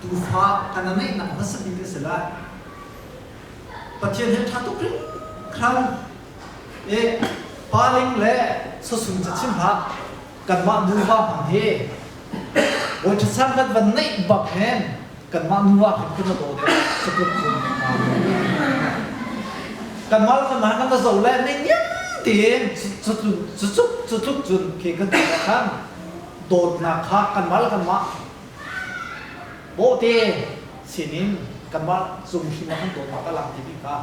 Tuufa kan ngeihnak hmasa bik a si lai. Pathian he ṭha tuk hringhran i pa ling le sasul cachim hlah, kanmah nuva hna hi Bawi ṭhaser dat van neih bak hin kanmah nuva he kun a daw te sakup cung kanmah le kanmah nan va zoh le nei niam tiin cutluk cutluk cun ke kan ti khan dawtnak kha kanmah le kanmah Bawhte sinin kanmah cung hrim ah kan dawtnak a lang timi kha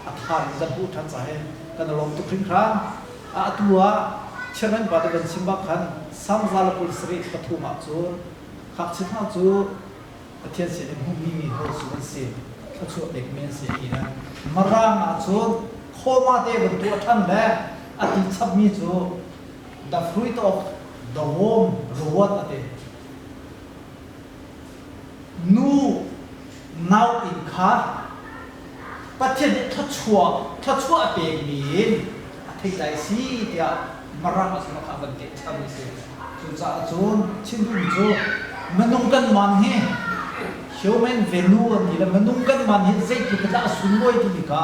a thar in kan hmuh ṭhan ca he kan i lawm tuk hringhran. Atu ah Chairman pa te van chim bak khan Psalm za le kul sarih pathum ah cun Ngakchia hna cu Pathian sinin hmuhmi mi hotu an si, thluachuah pekmi an si ti nan Mirang ah cun khawma te van tuah ṭhan le a ti chapmi cu Dafruit awk dawawm ruat a ti. Nu nau inn kha Pathian nih thluachuah thluachuah a pekmi in a theih lai si tiah Marang a sinah khan a van teh cham a si. Cucaah cun chim duhmi cu minung kanmah hi human value a mi le minung kanmah nih zeitluk in dah a sunlawi timi kha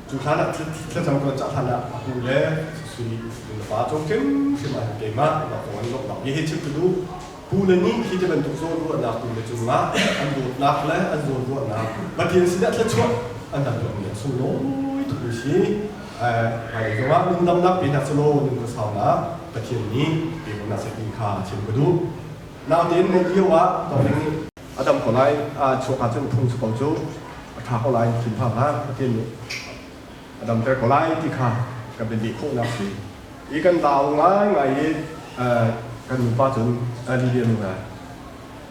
Cu hlan ah thlacam kan cah hlan ah a hnu le sui nu fa cawm hrimhrim ah hin keimah keimah kong an i lawmhnak mi hi chim ka duh pu le nih hi ti bantuk zawnruahnak tu le cungah an dawtnak le an zawnruahnak Pathian sinah thluachuah an han tuahmi a sunglawi tuk mi si hmailei zongah nungdamnak pe hna selaw nunga saunak Pathian nih pe ko hna seh ti kha chim ka duh naute in mei lio ah tawng nih A dam ko lai, aa chuak ahcun phung cu ko cu a ṭha ko lai, thinphang hlah, Pathian nih a damter ko lai ti kha ka biadih khawhnak a si i kan lau ngaingai i kan nupa cun Lidia nu hna,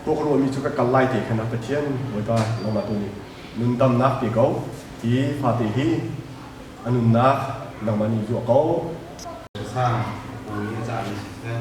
Kaw ka ruahmi cu ka kal lai te khan, a Pathian, Bawipa, nangmah tu nih nun damnak pe ko, hi fate hi a nunnak nangmah nih zuah ko. Cusang bu i a cami si seh.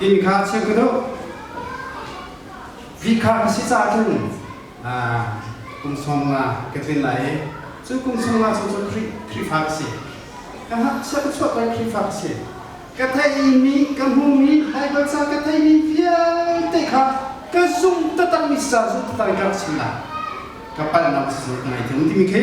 Inn kha check u law vi kha ka si ca cun kum sawm nga ka tlin lai i cu kum sawm nga chung cu Khrihfa ka si ka hngakchia ka chuah peng Khrihfa ka si ka theimi ka hmumi Baibal ca ka theimi vialte kha ka zung tatang mi sa zung tatang ka rak chim lai ka palhnak si ngai tung timi khi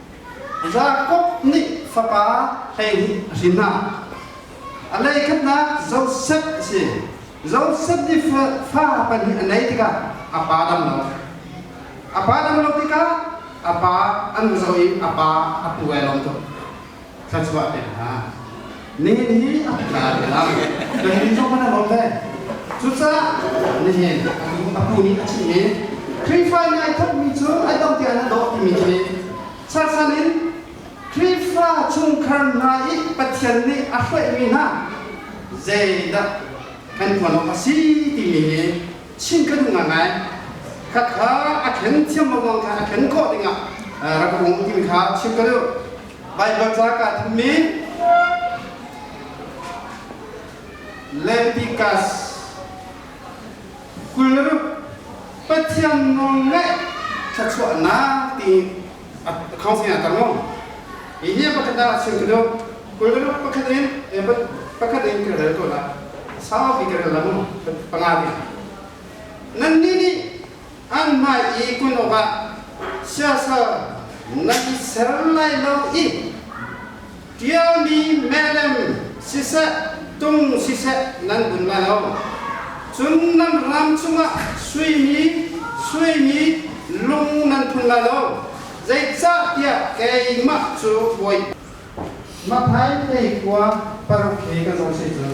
Jakob nih fapa hleihnih a hrin hna. A leikhatnak Josef a si. Josef nih fa pahnih a neih tikah a pa dam lo. A pa dam lo tikah a pa an zoh i a pa a pu ai lawm tuk. thluachuah pek hna. Nihin hi a tla te lang. Nihin zong kan lawm ve. Cucaah nihin a pu nih a chimh i Khrihfa nih ai thawkmi cu ai dong tiang an dawh timi khi charsan in Khrihfa chungkhar hna i Pathian nih a hruaihmi hna zeidah kan tuan awk a si timi hi chim ka duh ngai khakha a ken thiam lengmang kha a ken kawh dingah rak um timi kha chim ka duh. Baibal ca kaa thummi Lentikas kul Pathian nawlngaih thluachuahnak ti account sinah tang long hihi pakhat da sim ko kul pakhat in pakhat in ka rel ko la sau bi ka lam panga bi nan ni ni anmah i kun awkah siasal nan i ser lai lo i ṭialmi melem siseh tung siseh nan bun lai lo. Cun nan ram chungah suimi suimi lung nan phun lai lo, zeicahtiah keimah cu Bawi. Mathai pei kua paruk he ka zoh seh cun.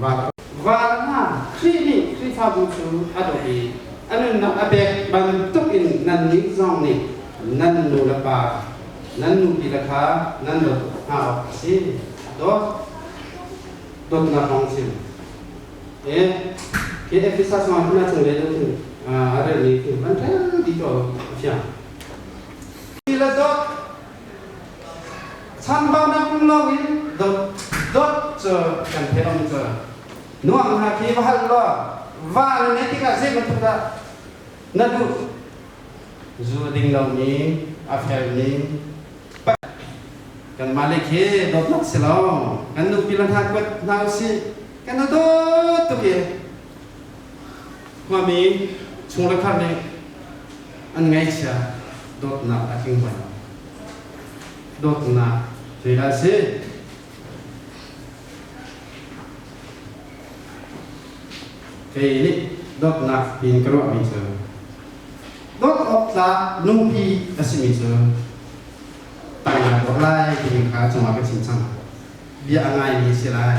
Van hna, Khrih nih Khrihfabu cu a dawt i a nunnak a pek bantukin nannih zong nih nan nulepa, nan nupile kha nan dawt tuk hna awk a si. Dawt. Dawtnak kong chim. Eh, hi Efesas mah hna chunglei lo thing a relmi thing van ṭhel ti cu a fiang. Ti le dawt changpa nam lo in dot dot cu kan theih om cu nuam hna khi va hal lo van ne tik ah zei bantuk dah na duh zu ding lo mi a fel ning kan malik hi dot nak si lo kan nu pilan ha kuat hna si kan na dot tu ye Khuami chungkhar nih an ngaihchia dawtnak a tling bal. Dawtnak zeidah a si? Kei nih dawtnak tiin ka ruahmi cu dawt awk tlak nupi a simi cu tangah dawt lai timi kha cungah ka chim cang. Bia a ngaimi a si lai.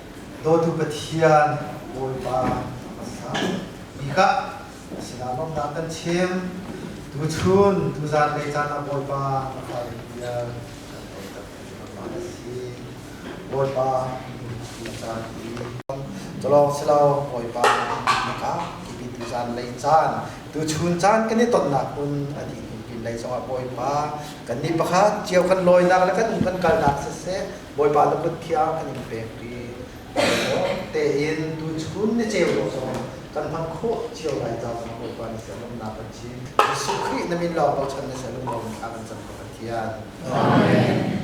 Dawtu Pathian, Bawipa a ka sang. Mi kha sinah lawmhnak kan chim. Tu chun, tu zanlei caan ah Bawipa ka fale bia kan ei tak ti bangba a si. Bawipa minung a caan i Culawng si lo, Bawipa na ka kipi tu zanlei caan, tu chun caan kan i tonnak un a dih kum pinlei zongah Bawipa kannih pakhat cio kan lawinak le kan um kan kalnak siseh Bawipa na kut khi a kan in pek i tein tuchun ni ceu awk zong kan hman khawh cio lai caah zong Bawipa na sial umnak kan cim. Jesuh Khrih na min lawng bochan na sial um lomi kha kan cam kha Pathian. Amen.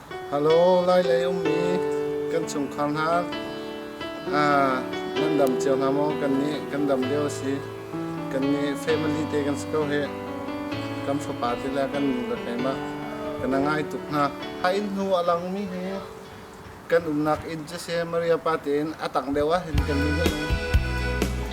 Halo, lai lei ummi kan chungkhar hna nan dam cio hna maw? Kan nih kan dam lio a si. Kan nih family te kan si ko hi. Kan fapa te le kan nu le keimah kan ngai tuk hna. A inn hnu a langmi hi kan umnak inn cu si Maria pa tein a tang deuh ah hin kan nih